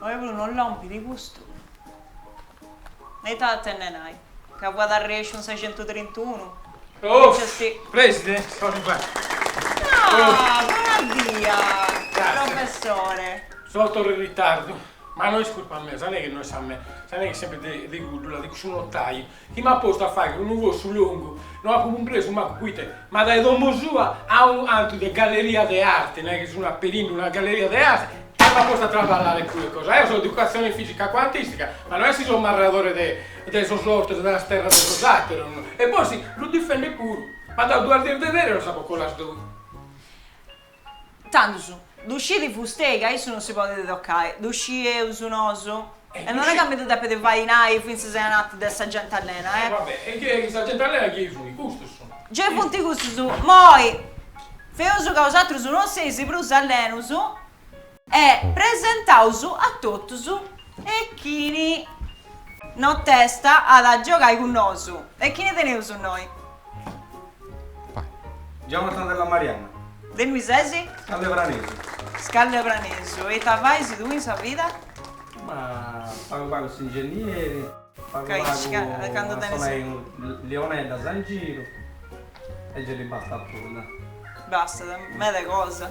Oi puru no est lòmpiu custu? Ita at a tenne, nai? Ca fuat arrèsciu in sa centu trintunu? Buona dia, professore. Sò torru in ritardu. Ma no est curpa mea, sa neghe no est sa mea, sa neghe est sempre de de Guddula, de cussu notaju, chi m'at postu a fagher unu fossu longu, no apo cumpresu mancu proite, ma dae domo sua a un'antu de galleria de arte, no est chi sun aperindu una galleria de arte, e m'at postu a trabalare cudda cosa, eo so de educatzione fisica cuantistica, ma no est chi so marradore de de sos ortos e de sas terras de sos ateros, no, e possi lu difendes puru, m'at dadu duas dies de ferias e nos apo coladu. Tandus, ddu scit Fustei ca issu non si podet tocai, ddu scieus nosu, e non est ca mi ddu depet fai nai fintzas ananti de sa genti allena, eh. Va bene, e chie, sa genti allena chie sunt? Custos sunt? Gei funt custus, moi, feus ca 'osatrus non seis prus allenus. E presentaus a totus e chini nontesta at a giogai cun nosu e chini teneus innoi? Jonathan Della Marianna. De innui sesi? Scallebranesu. Scallebranesu. E ita fais tui in sa vida? Ma pagu pagu s'ingenieri, pagu pagu a sonendi lioneddas in giru e gei li bastat puru, no? Bastat, meda cosa.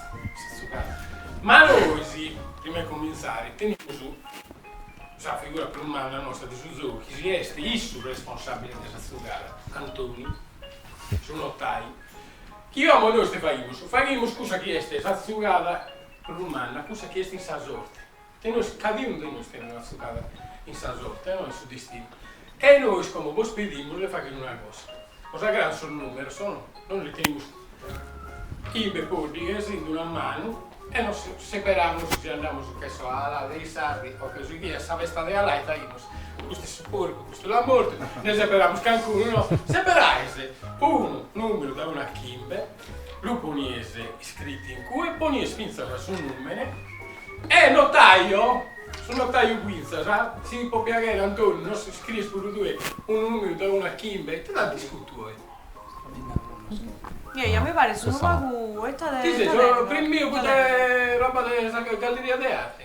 Ma nois, prima 'e comintzare, tenimus sa figura prus manna nosta de su zogu, chi si est su responsàbile de sa zugada, Antoni, su notai. Ca como nois ite faghimus? Faghimus cussa chi est sa zugada prus manna, cussa chi est in sa sorte. E nois, cadaunu de nois tenimus sa zugada in sa sorte, no in su destinu, e nois como bos pedimus de fagher una cosa, bos agradan sos numeros, o no? Nois tenimus chimbe poddighes in una manu e nos seperamus si andamus che so a Alà dei Sardi o che so chi a sa festa de Alà e faghimus custu est su porcu, custu l'at mortu, nde seperamus cancunu, no? Seperaise unu numeru da unu a chimbe lu ponies iscritu in cue ponies fintzas su nùmene e notàio, su notàiu fintzas, si po piaghere Antoni nos iscries puru tue unu nùmeru dae unu a chimbe, ite nd'isco, tue? Nia nia mi pares unu pagu, ita de, ita tengo, ita tengo. Chi ses, semper impare cun sa roba de sa galleria de arte?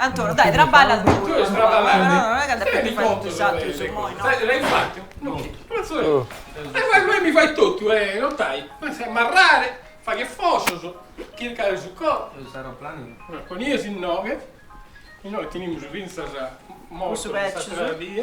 Antoni, dai, traballas tue puru. Mi fai totu, su notai, m'as a marrare, fagher fossos, chircare su coso. Conie ses innoghe, e nois tenimus fintzas modos s'àtera die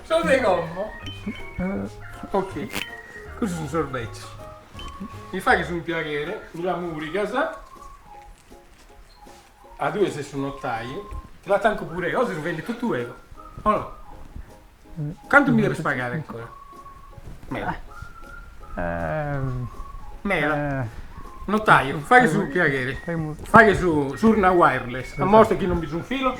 Sos de como. Ok. Cussu sun sos beccios. Mi faghes unu piaghere, mi la murigas. A tue ses su notaiu. Ti la tanco pur'eo. Ca si no bendo totu ego. O no? Cantu mi debes pagare ancora? Meda. Meda. Notaio, faghe su piaghere. Faghe su surna wireless. Ammostra chi non bi sun filos.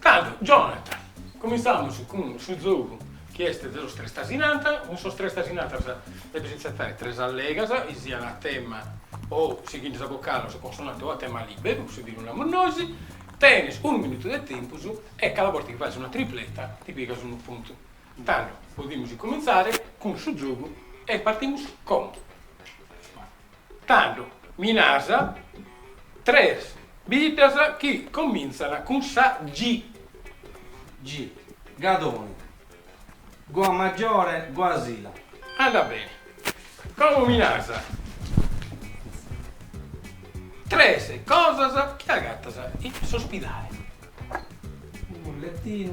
Tando, Jonathan, cumintzamos cun su giogu chi est de sos tres tasinatas, cun sos tres tasinatas depis intzettare tres allegas, chi sian a tema o sighende sa vocale o sa consonante o a tema liberu, cussu ti lu namus nois, tenes unu minutu de tempus e cada borta chi faghes una tripleta ti pigas unu puntu. Tando, podimus cumintzare cun su giogu e partimus con. Tando mi nas tres biddas chi comintzana cun sa G. G. Gadoni. Guamaggiore, Guasila. Andat beni. Como mi nas tres cosas chi agattas in s'ospidale. Unu lettinu.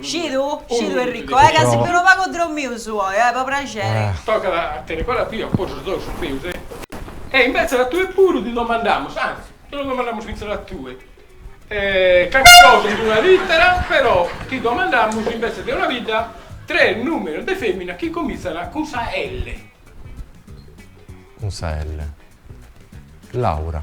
Scidu? Scidu Enrico, eh, ca si fiat unu pagu drommiu su oi, eh, po praxeri. Tocat a tenni cora a pia, po sos dos su fius, eh. E imbetzes a tue puru ti domandamus, anzi, ti lo domandamus fintzas a tue, carchi cosa in una littera, però ti domandamus imbetzes de una bidda tres numenes de femina chi comintzan cun sa L. Cun sa L. Laura.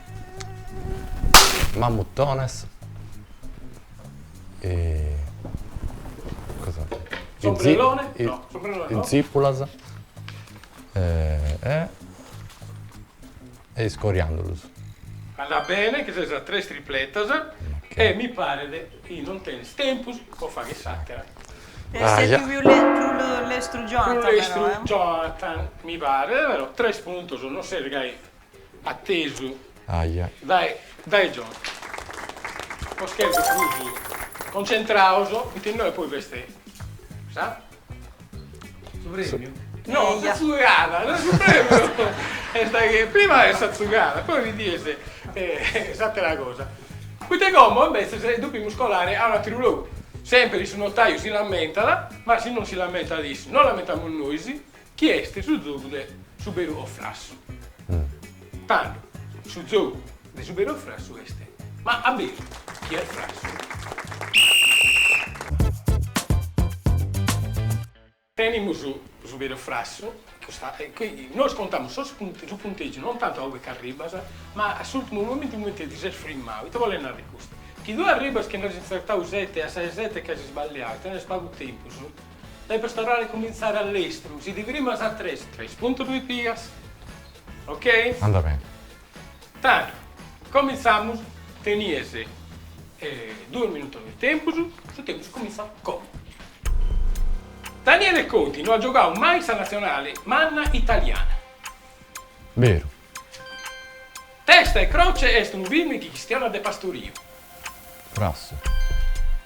Mammutones e cosa S'ombrellone e no s'ombrellone no Zipulas e e e is coriandulus. Andat bene chi ses a tres tripletas e mi paret chi non tenis tempus po fagher s'atera. Est pius lestru Jonathan però eh. Jonathan mi paret però tres puntos non ses gai Attesu. Aja. Dae dae Jonathan. Po scherzu prus concentraus inoghe poi b'est sa. Su premiu? No sa zugada, no su premiu est chi prima est sa zugada poi ti dies s'atera cosa. Poita como imbetzes depimus colare a un'ateru logu. Sempiri su notaiu si lamentat, ma si non si lamentat issu, nos lamentamus nois. Chi est su zogu de su beru o frassu? Tando, su zogu de su beru o frassu est, ma a beru chi est frassu? Tenimus su beru o frassu, nois contamus su puntegiu non tantu a ue ch'arribbas, ma a s'ultimu momentu cumenti ti ses frimmau. Ite bolet narrer custu? Chi tue arribbas chi nd'as intzertau sete e a sa 'e sete ch'as isballiau, tenes pagu tempus, Depes torrare cumintzare a lestru, si ti frimas a tres, tres puntos ti pigas. Ok? Andat bene. Tando, comintzamos, tenies duos minutos de tempus, su tempus comintzat como. Daniele Conti no at giogau mai sa natzionale manna italiana. Beru. Testa e Croce est unu film chi chistionat de pastoriu. Frassu.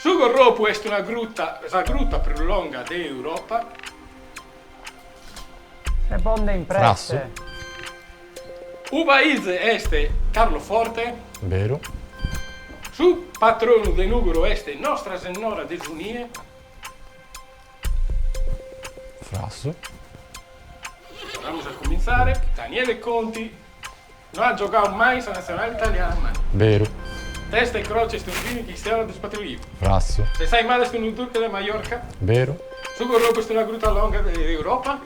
Su Gorropu est una gruta, sa gruta prus longa de Europa. Risponde in presse. Frassu. U Pàize est Carloforte. Beru. Su patronu de Nùgoro est Nostra Sennora de su Nie. Frassu. Torramus a cumintzare, Daniele Conti. No at giogau mai sa natzionale italiana. Beru. Testa e croce est unu film chi chistionat de pastoriu. Frassu. S'ensaimada est unu durche de Maiorca. Beru. Su Gorropu est una gruta longa de Europa.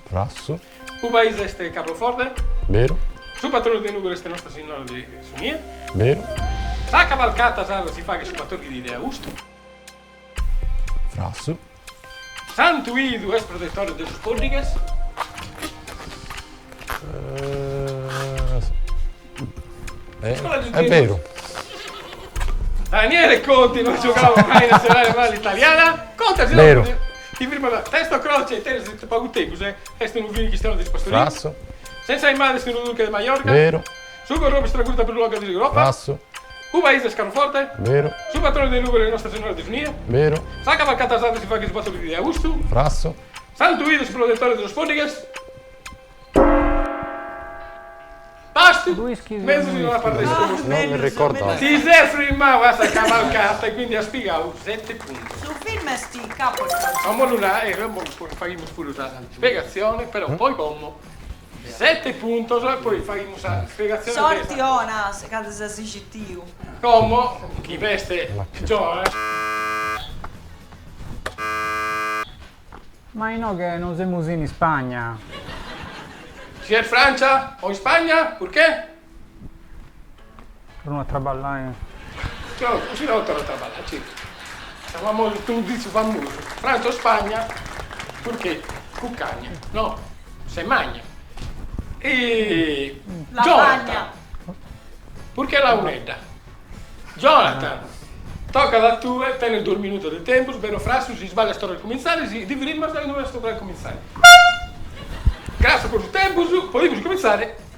Frassu. U Pàize est Carloforte. Beru. Su patronu de Nugoro est Nostra Sinnora de su Nie. Beru. Sa cavalcata sarda si faghet su batòrdighi de austu. Frassu. Santu Idu est protetore de sos pòddighes? Est beru. Daniele Conti no at giogau mai in natzionale manna italiana? Beru. Ti firmo da. Testa e Croce, tenes pagu tempus, est unu film chi chistionat de pastoriu? Frassu. S'ensaimada est unu durche de Maiorca? Beru. Su Gorropu est sa gruta prus longa de Europa. Frassu. U Pàize est Carloforte. Beru. Su patronu de Nùgoro est Nostra Senora de su Nie. Beru. Sa cavalcata sarda si faghet su batòrdighi de austu. Frassu. Santu Idu est protetore de sos pòddighes. Basta. Ddu ischis? Mezus in una parte de su postu. Non mi ricordo. Ti ses firmau a sa cavalcata e quindi as pigau sete puntos. Su film est in capo a sa. Como lu narat, faghimus puru sa spiegazione, però poi como. Sete puntos e poi faghimus sa spiegazione Sorti 'ona cando ses iscitiu. Como chi b'est Ma inoghe non semus in Ispagna. Si est Francia o Ispagna? Purchè? Torru a traballai. Io si no torru a traballai ci sa famosu su ditzu famosu Franza o Spagna purchè cuccagna no se magna e Jonathan purchè Lauredda Jonathan toccat a tue tenes duos minutos de tempus beru o frassu si sballias torru a cumintzare si ti firmas inoghe est torru a cumintzare. Grassu po su tempus podimus cumintzare.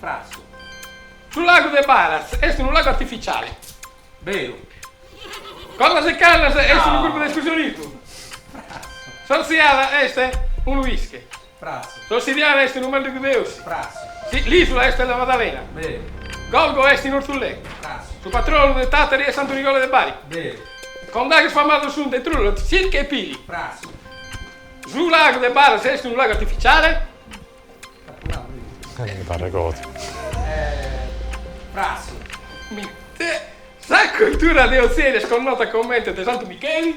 Frassu. Su lagu de Baratz est unu lagu artificiale. Beru. Cordas e Cannas est unu grupu de escursionismu. Frassu. S'Orziada est unu pische. Frassu. S'Ossidiana est unu màndigu de Ossi. Frassu. L'Isula est La Maddalena. Beru. Golgo est in Ortzulè. Frassu. Su patronu de Tàtari est Santu Nicola de Bari. Beru. Condaghes famados sunt de Trullas, Silchi e Pili. Frassu. Su lagu de Baratz est unu lagu artificiale. Sa cultura de Otzeri est connota comente de Santu Micheli.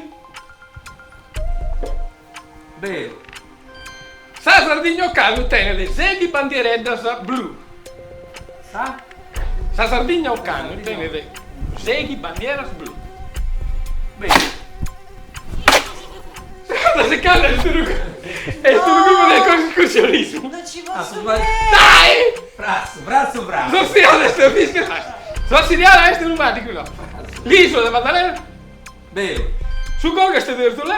Sa Sardigna ocannu tenet seighi bandiereddas blu. Sa Sardigna ocannu tenet seighi bandieras blu. Cordas e Cannas est unu grupu de escursionismu. S'Ossidiana est unu màndigu. L'ìsula est La Maddalena. Su Golgo est in Ortzulè.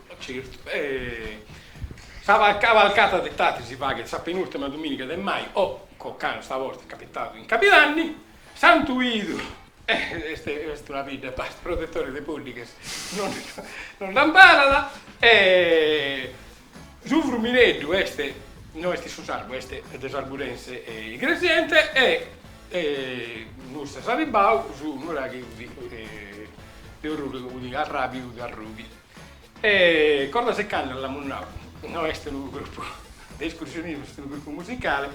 Certu. E sa cavalcata de Tàtari si faghet sa penùrtima dumìniga de maju, ocannu sa borta est capitadu in cabidanni, Santu Idu, est est una bidda basta, protetore de poddighes non non nd'amparat e su Frumineddu est, no est in su sardu, est de s'Arburense e Iglesiente e e custu est arribbau su nuraghe 'udì e de Orroli 'udì arrabi 'udì Arrubiu E Cordas e Cannas l'amus nau, no est unu grupu de escursionismu, est unu grupu musicale,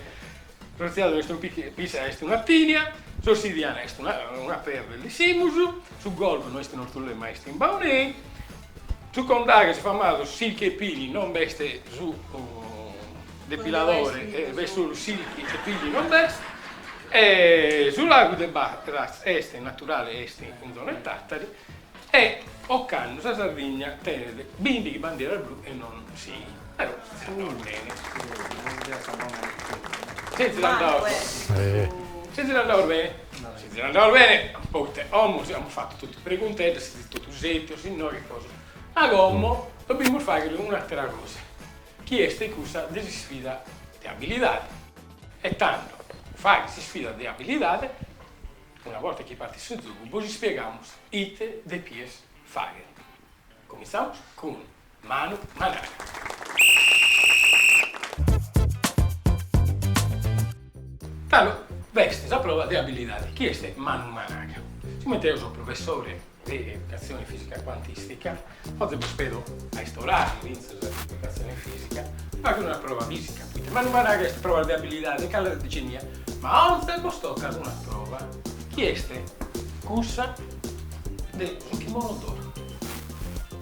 s'Orziada no est unu pische est una atìnia, S'Ossidiana est una una perda e l'ischimus, su Golgo no est in Ortzulè ma est in Baunei, sos Condaghes famados Silchi e Pili non b'est su depiladore e b'est solu Silchi e Pili non b'est e su Lagu de Baratz est naturale est in zona 'e Tàtari E ocannu sa Sardigna tenet bìndighi bandieras blu e non sighit. Però est andau bene. S'est zirandaus bene. S'est zirandaus bene. S'est zirandaus bene. Poita omus amus fatu totu pregunteddas, totu setzius, si no, che cosa. Ma como dobimus fagher un'atera cosa, chi est cussa de s'isfida de abilidade. E tando fagher s'isfida de abilidade Una borta chi partit su zogu bos ispiegamus ite depies fagher. Cumintzamus cun Manu Managa. Tando b'est sa prova de abilidade chi est Manu Managa. Sigomente eo so professore. de educatzione fìsica cuantìstica, oze bos ispiego a istorare s'inzinnu de educatzione fìsica, faghe una prova fìsica, poita Manu Managa est prova de abilidade de cale si siat zenia, ma oze bos tocat una prova, chi est cussa de su kimono d'oro.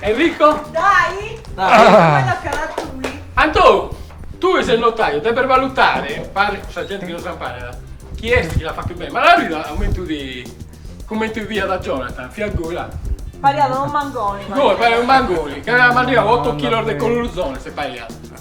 Enrico? Dai! Antò, tue ses notàriu, depes balutare, pro sa genti chi non s'imparat, chi est chi l'at fatu beni. Ma Laura Rita, a umentu de, cumenti fiat Jonathan, fiat goi là. Pariat unu mangoni. Goi, pariat unu mangoni, ch'aiat mandigau oto chilos de culurzones, si pariat.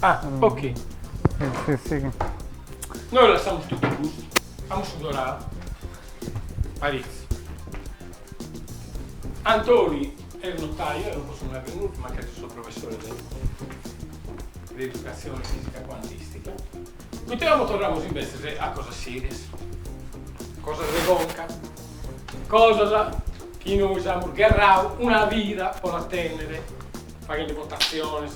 Ah, ok. Sì, sì, sì. Noi lassamos tutto custo, amus sudorau, paritzi. Antoni est notaio, eo non posso narrer nudda, mancari su so professore de de educazione fisica quantistica. Poita como torramus imbetzes a cosas serias, cosas de conca, cosas chi nois amus gherrau una vida po la tennere faghende votatziones,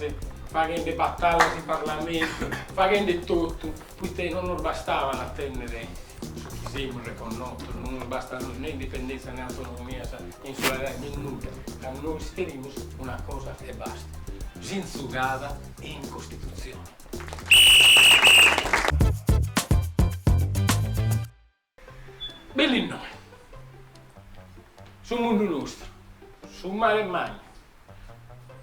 faghende batallas in parlamentu, faghende totu, poita non nos bastabat a tènnere su chi semus reconnotos, non nos bastat nè indipendèntzia nè autonomia, sa insularida, nè nudda, ca nois cherimus una cosa e basta, Tzintzigada in Costitutzione. Bellu innoe. Su mundu nostru. Su mare mannu.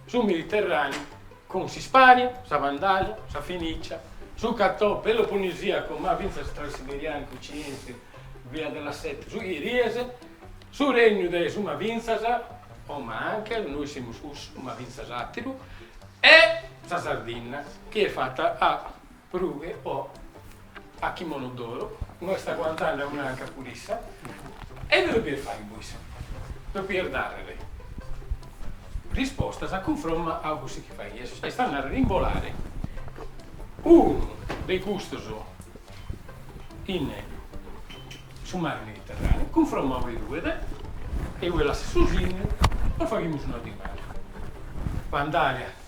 Su Mediterraneu cun s'Ispania, sa Vandalia, sa Fenicia, su Cato-Peloponnesiacu, ma fintzas Transiberianu, Oriente, Via della Seta, su Igresiese, su Regnu de su ma fintzas, o ma anche, noi semus cussu, ma fintzas ateru, e sa Sardinna chi est fatta a Prughe o a Kimono d'oro, no est aguantende a un'anca pur'issa, e ite dovies fai bois? Dovies dare rispostas a cunfromma a cussu chi faies, est a nàrrere imbolare unu de custos in su mare Mediterraneu, cunfromma ue ruet e ue lassat su signu, bos faghimus una dimanda. Bandària.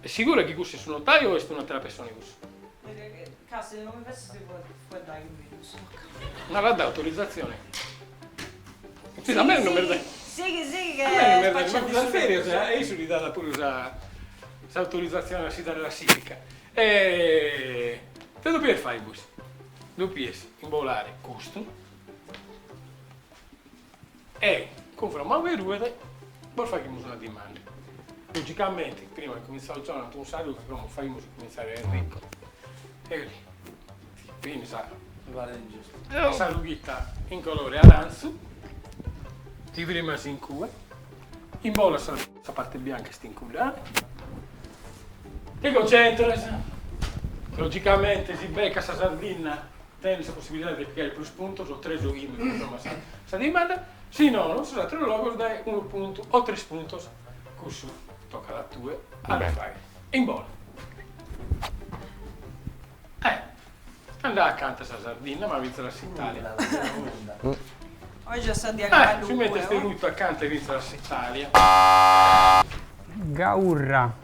Est sigura chi cussu est su notariu o est un'atera pessone cussu? Ca si no mi fessit si fuet dai cun bidus. M'at dau autorizatzione. Sighi sighi sighi ca est paciente su tempus. E a issu li dat puru sa s'autorizatzione a si dare la sitica. E ite dovies fai bois? Dovies imbolare custu. E, cunfromma ue ruet, bos faghimus una dimanda. Logicamenti, prima de cumintzare zonant cun sa ruga, como faghimus cumintzare a Enrico? Eri, benis a. Mi paret giustu. A sa rughitta in colore arantzu, ti frimas in cue, imbolas sa. Sa parte bianca est in cuddae. Ti concentras. Logicamenti, si becas sa Sardinna. Tenes sa possibilidade de pigare prus puntos o tres o chimbe cunfromma sa dimanda, si nono in sos ateros logos dae unu puntu o tres puntos, cussu tocat a tue a ddu fai. Imbola. Eh! Andau acanta a sa Sardinna, ma fintzas a s'Italia. Oje est sa die calungue. Fintzas a s'Italia. Gaurra.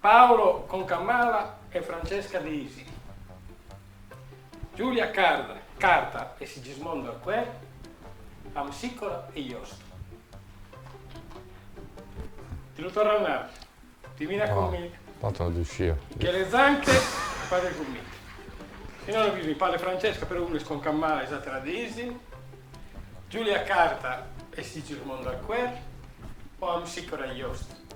Paolo Concamala e Francesca De Isi, Giulia Carta e Sigismondo Arquer, Amsicora e Iosto. Ti lu torro a nare, Divina Commedia. Tanto non ddu sciu. Michele Zanche e frade Gomita. Si no no bisogna, Paolo e Francesca, però unu est Concamala e s'atera De Isi, Giulia Carta e Sigismondo Arquer o Amsicora e Iosto.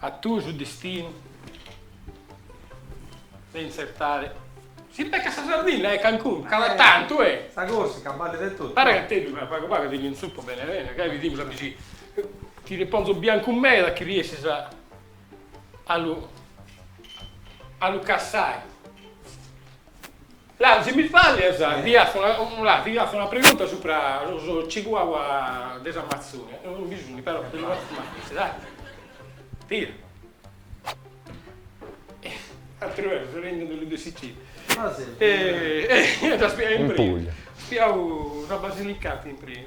A tue su destinu de intzertare. Si beccat sa Sardinna, e Cancun, cada tantu, e. Sa Corsica, ballit de totu. Pare ca teddu tra pagu pagu ti ndi intzupo bene bene, ca bidimus a bixi. Ti ndi ponzo biancu meda chi riessis a a lu a lu cassai. Laru, si mi fallias, ti afu una, ti afu una pregunta supra sos Chihuahua de s'Amazzonia, no bi sun però bi no apu mai bistida ateru, tia. Ateru eo so rendiu de de Sicilia. Ah si. E e ddas in Puglia. Fiaus a Basilicata in prima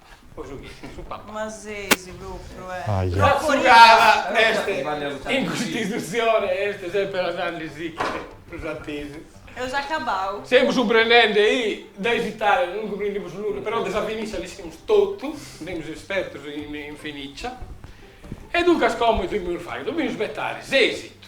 Ma seis propriu e. Aja. Atzugada est in Custitutzione e est semper andandesiche prus atesu. Eus acabau. Semus cumprendende chi de s'Italia non cumprendimus nudda, però de sa Fenicia l'ischimus totu, semus espertus in Fenicia. E duncas como ite dovimus fai? Dovimus isbetare s'esitu.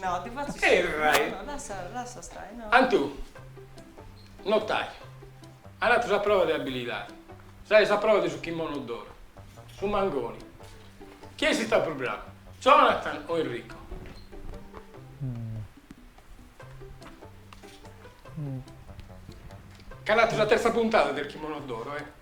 No, ti fatzu sciai. E rai. No, no, lassa, lassa stai, no. Antu, notai. Ant fatu sa prova de abilidadi. Sai sa prova de su kimono d'oru. Su mangoni. Chi est istau prus bravu, Jonathan o Enrico? Ca ant fatu sa terza puntada del kimono d'oro, eh.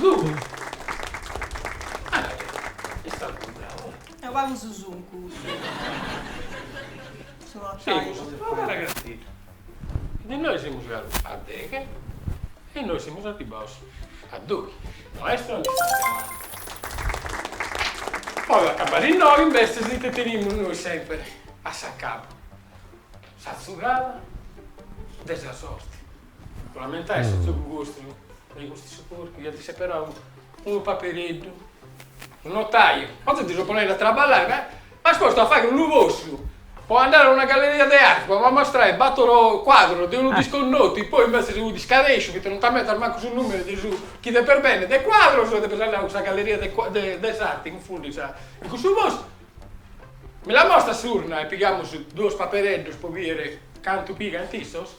Lugu! Est istau bravu, eh? Eo pagu su sucu. Su notaio. Semus una cara castidda. Chi de nois semus abarraus a deghe e nois semus arribbaus a doghi. Maestro Alessandro Amanzi. Po acabbare, innoi invece ite tenimus nois sempere a s'acabu? Sa tzugada de sa sorti. Lamentai su tzogu custu e custu su porcu iant seperau unu papereddu. Su notaiu, oe ddu so ponendi a traballai, ma m'as postu a faghi unu postu po andai a una galleria de arti po ammostrai batoro cuadros de unu disconnotu, poi invecias nd'iscadesciu, poita non t'ammentas mancu su numeru de su chi depes bendi de cuadros, depes andai a cussa galleria de de de s'arti, cunfundis a cussu postu. Mi la mostra s'urna e pigamus duos papereddus po bìdere cantu pigant issos?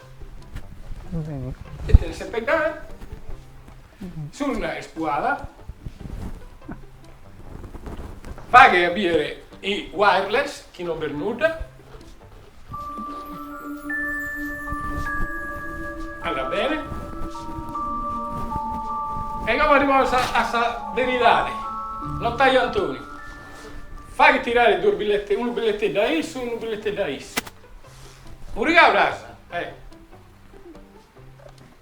Ite tenet sa peddana? S'urna est sbuida. Faghe a bìdere i wireless chi non b'est nudda. Ah va bene. E como arribamus a sa veridade, notaio Antoni, faghe tirare duos billetes, unu billeteddu a issu e unu billeteddu a issa. Muriga, Rosa. Eh.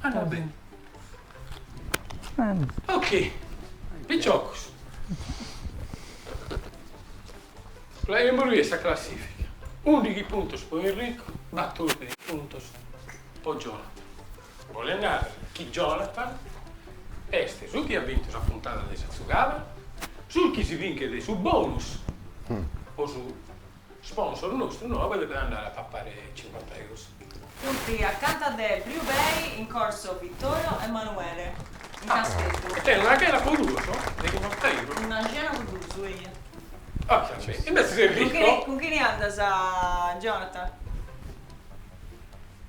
Ah va bene. Ok, piciocos. Leaus a bìere sa classifica. Undighi puntos po Enrico, batordighi puntos po Jonathan. Bolet narrer chi Jonathan est su chi at bintu sa puntada de sa tzugada, su chi si binchet su bonus po su Sponsor nostru nobu depet andare a papare cincuanta eros. Fut acanta de Blue Bay in corso Vittorio Emanuele in Casteddu. E tenit una chena po duos de chinchanta euro. Una cena po duos, eia. Ovviamenti, invece ses ricco. Cun chini andas Jonathan?